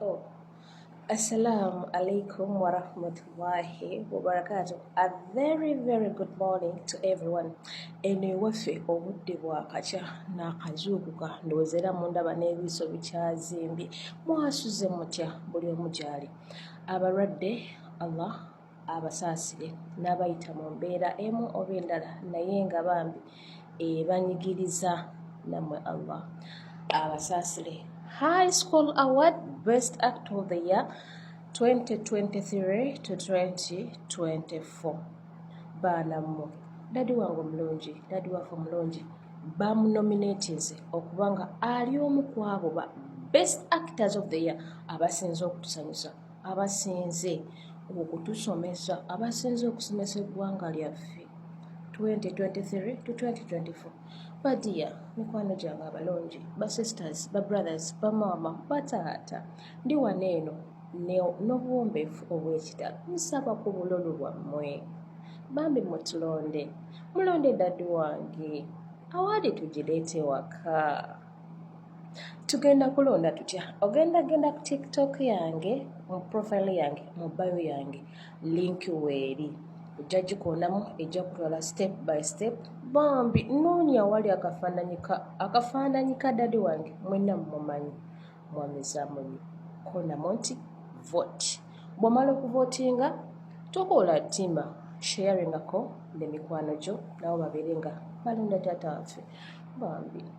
Oh. Assalamu alaikum wa rahmatullahi wa barakatuh. A very very good morning to everyone. Eno ewaffe obudde bwakakya n'akazuukuka ndowooza era mundaba n'ebiiso bikyazimbye mwasuze mutya buli omu gy'ali abalwadde Allah abasaasire n'abayita mu mbeera emu oba endala naye nga bambi ebanyigiriza namwe allah abasaasire high school award best act of the year 2023 to 2024 baana mmwe dadi wange omulungi dadi waffe omulungi bamunominatinze okuba nga ali omu ku abo ba best actors of the year abasinza okutusanyusa abasinze okutusomesa abasinze okusomesa eggwanga lyaffe 2023-2024 badiya mikwano gyange abalungi basisters babrothers bamaama bataata ndi wano eno n'obuwombeefu obw'ekitalo nsaba ku bulolo bwammwe bambi mutulonde mulonde dadi wange awaadi tugireete waka tugenda kulonda tutya ogenda genda ku tiktok yange mu profile yange mu bayo yange link weeri ojja gikonamu ejja kutwala step by step bambi noonya wali akafaananyi ka dadi wange mwena mumanyi mwamizamunyi konamu nti vote bwomala okuvotinga tokoola tima sharingako ne mikwano gyo nabo babeere nga balonda taata waffe bambi